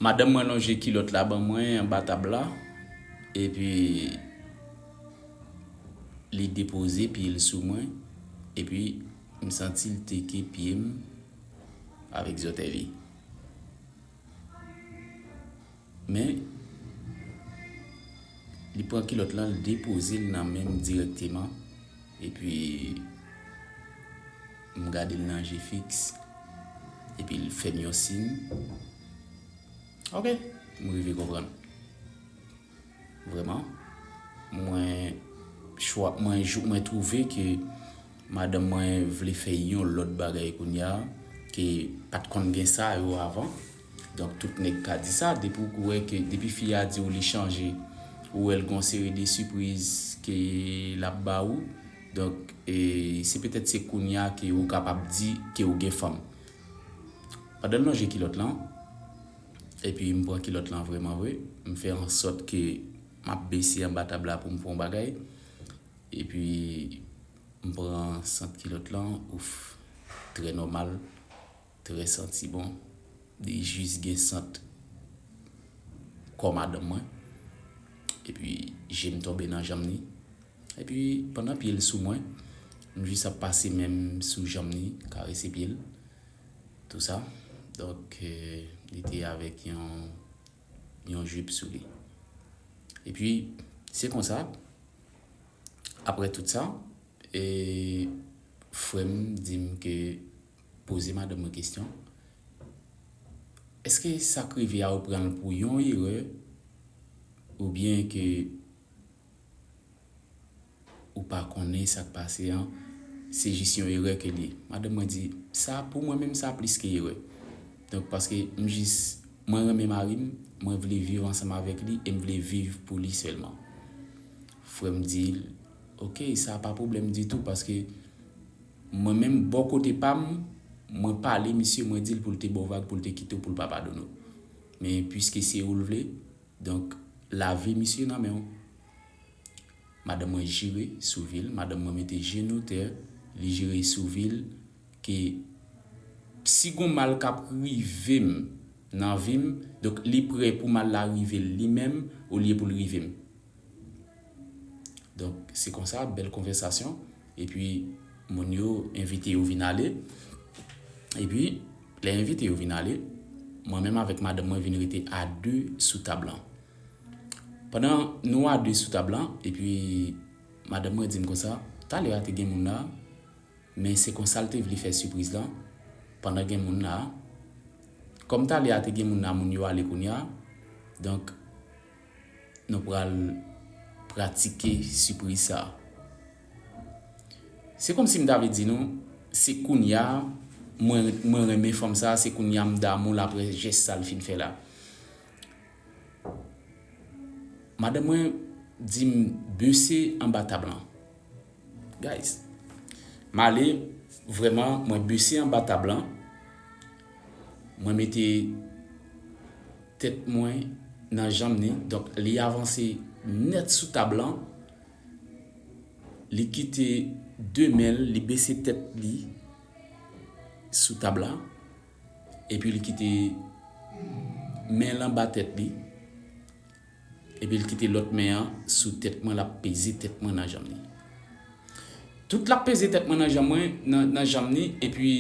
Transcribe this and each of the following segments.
Madanm mwen lonje kilòt la ban mwen anba tab la, epi li depoze pye l sou mwen, epi m santi l teke pye m avèk zòtèy li. Men, li pran kilòt lan l depoze l nan men m dirèkteman, epi. M gade l nan je fiks. Epi l fè m yon sin. Ok, m rive konprann. Vrèman. Mwen chwa, mwen twouve ke madanm mwen vle fè yon lòt bagay kounya ke pa t konn gen sa yo avan. Donk tout nèg ka di sa. Depi w wè ke, depi fi a di w li chanje, ou wè l gen yon seri de sipriz ke l ap ba ou. Donk se petèt se kounya ke ou kapab di ke ou gen fanm. Pandan l lonje kilòt lan, epi m pran kilòt lan vreman vre, m fè an sòt ke m ap bese anba tab la pou m pran yon bagay, epi m pran sant kilòt lan, ouff, trè nòmal. Très santi bon. Li jis gen sant kò madanm mwen. Epi je m tonbe nan janm ni. Epi pandan pye l sou mwen. M jis ap pase men m sou janm ni. Karese pye l. Tou sa. Donk li te avèk yon jip sou li. Epi se konsa. Aprè tout sa. E frè m di m ke Poze madanm mwen kesyon, Èske sa k rive a ou pran l pou yon erè oubyen ke ou pa konnen sa k pase an se jis yon erè ke l ye? Madanm mwen di, Sa pou mwen menm sa plis ke erè. Donk paske m jis mwen renmen mari m, mwen vle viv ansanm avèk li e m vle viv pou li sèlman. Frè m di l, Ok, sa pa pwoblèm ditou paske. Mwen menm bò kote pam mwen pale misye mwen dil poul te baw vag poul te kitew poul pa padone w men puiske se oul vle donk lavi misye nan menw madanm mwen jire sou vil madanm mwen mete jenou tè li jire sou vil ke si gon mal kap rivem nan vim donk li prè pou mal la rivel li menm olye poul rivem donk se konsa bèl konvèsasyon. Epi moun yo envite yo vin ale. Epi lè envite yo vin ale, mwen menm avèk madanm mwen vin rete a de sou tab lan. Pandan nou a de sou tab lan, epi madanm mwen di m konsa, talè a te gen moun la, men se konsa l te vle fè sipriz lan, pandan gen moun la. Kòm talè a te gen moun la, moun yo ale kounye a, donk. Nou pral pratike sipriz sa. Se kòm si m ta vle di nou, se kounya mwen renmen fanm sa, se kounya m damou l aprè jès sa l fin fè la. Madanm mwen di m bese anba tab lan. Guys. Male vreman mwen bese anba tab lan. Mwen mete tet mwen nan janm ni. Donk li avanse net sou tab lan. Li kite de men li bese tet li sou tab la. Epi li kite men lan ba tet li. Epi l kite lòt men an sou tèt mwen l ap peze tèt mwen nan janm li. Tout l ap peze tèt mwen nan janm mwen, nan janm li, epi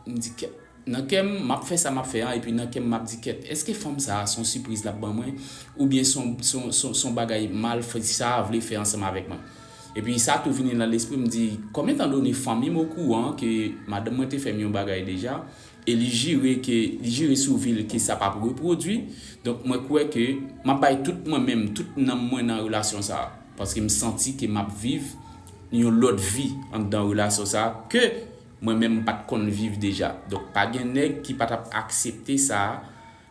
m di kèt. Nan kè m, m ap fè sa m ap fè an epi nan kè m m ap di kèt, èske fanm sa a s on sipriz l ap ban mwen oubyen s on bagay mal fi sa a vle fè ansanm avèk mwen? Epi sa tou vini nan lespri m, m di, konbyen tan done fanmi m okouran ke madanm mwen te fè m yon bagay deja e li jire ke li jire sou vi l ke sa pap repwodwi, donk mwen kwè ke map bay tout mwen menm, tout nanm mwen nan relasyon sa, paske m santi ke map viv yon lòt vi anndan relasyon sa ke mwen menm m pat konn viv deja, donk pa gen nèg ki pa tap aksepte sa.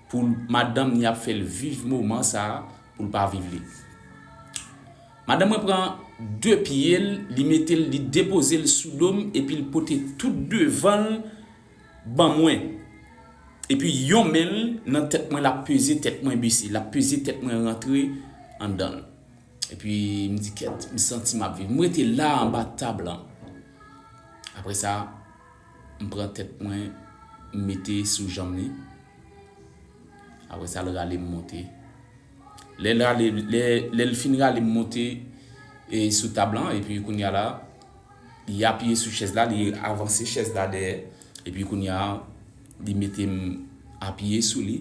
Pou madanm ni ap fel viv moman sa poul pa viv li. Madanm mwen pran 2 pyel li metel li depozel sou dom epil pote tout devanl ban mwen epi yon menl nan tèt mwen lap peze tèt mwen bese lap peze tèt mwen rantre andanl epi mdi kèt msanti map viv mrete la anba tab lan apresa M pran tèt mwen m mete sou janm li apre sa l rale m monte lè l rale lè l fin rale m monte e sou tab lan epi kounya la li apiye sou chèz la li avanse chèz la dèyè epi kounya li mete m apiye sou li.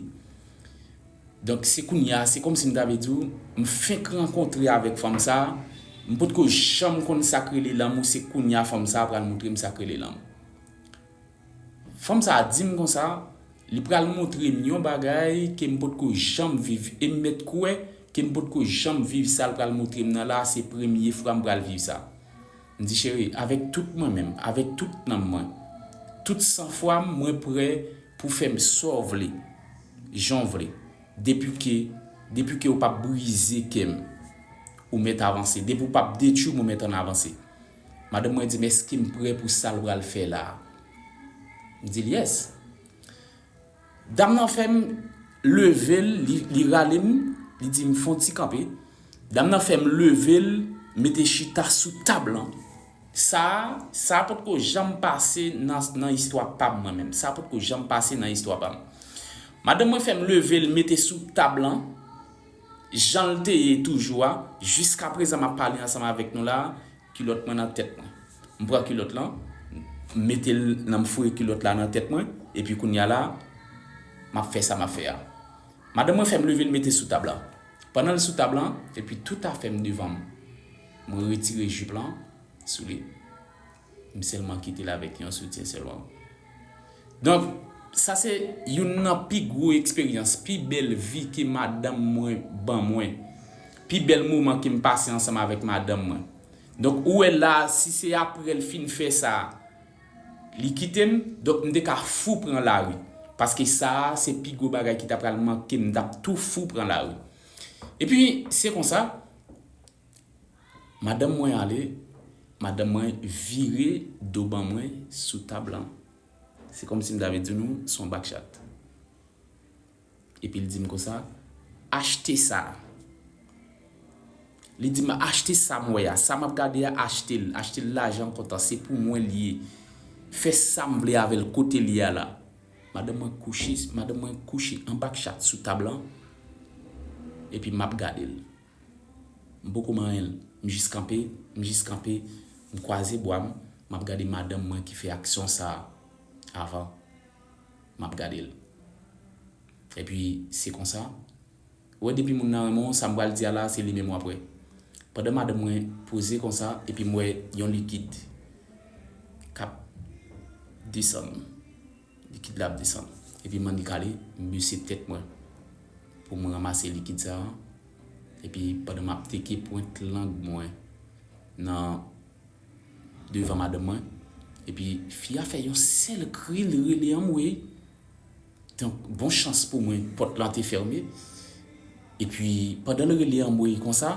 Donk se kounye a, se kòmsi m ta vle di w, m fenk rankontre avèk fanm sa a, m potko janm konn sa k rele lanmou se kounye a fanm sa a pral montre m sa k rele lanmou. Fanm sa a di m konsa, li pral montre m yon bagay ke m potko janm viv e m mèt kwè ke m potko janm viv sa l pral montre m nan la a, se premye fwa m pral viv sa. M di cheri, avèk tout mwen menm, avèk tout nanm mwen, tout san fwa m, mwen prè pou fè m sa w vle, jan w vle, depi ke, depi ke ou pap brize kè m, ou mèt avanse, depi ou pap detwi m, ou mèt ann avanse. Madanm mwen di m, èske m prè pou sa l pral fè la a? M di l, yes. Dam nan fèm leve l li rale m li di m fon ti kanpe dam nan fèm leve l mete chita sou tab lan sa sa potko janm pase nan istwa pam mwen menm sa potko janm pase nan istwa pam madanm mwen fèm leve l mete sou tab lan janl te ye toujou a jiskaprezan map pale ansanm avèk nou la. Kilòt mwen nan tèt mwen. M pran kilòt lan, m mete l nan m foure kilòt la nan tèt mwen, epi kounye a la, m ap fè sa m ap fè a. Madanm mwen fè m leve l mete sou tab la. Pandan l sou tab la, epi tout afè m devan m, m retire jip lan sou li. M sèlman kite l avèk yon soutyen sèlman. Donk, sa se youn nan pi gwo eksperyans, pi bèl vi ke madanm mwen ban mwen. Pi bèl moman ke m pase ansanm avèk madanm mwen. Donk, ou wè la a, si se apre l fin fè sa, li kite m, donk m te ka fou pran lari. Paske sa a, se pi gwo bagay ki ta pral manke m, m t ap tou fou pran lari. Epi, se konsa. Madanm mwen ale, madanm mwen vire do ban mwen sou tab lan. Se kòmsi m ta vle di nou se yon bakchat. Epi l di m konsa, Achte sa. Li di m achte sa m wè a, sa m ap gade a achte l, achte l lajan kontan, se pou mwen l ye. Fè sa m vle avè l kote l ye a la. Madanm mwen kouche, madanm mwen kouche an bakchat sou tab lan, epi m ap gade l. M poko manyen l. M jis kanpe, m jis kanpe, m kwaze bwa m, m ap gade madanm mwen ki fè aksyon sa a avan. M ap gade l. Epi, se konsa, ou wè depi moun nan renmen w, sa m pral di a la, se li menm w ap wè. Pandan madanm mwen poze konsa, epi m wè yon likid k ap desann. Likid la ap desann. Epi m'en dekale, m bese tèt mwen pou m ranmase likid sa a. Epi pandan m'ap teke pwent lang mwen nan devan madanm mwen. Epi fi a fè yon sèl kri li rele anmweyy. Donk bon chans pou mwen pòt lan te fèmen. Epi pandan l rele anmweyy konsa.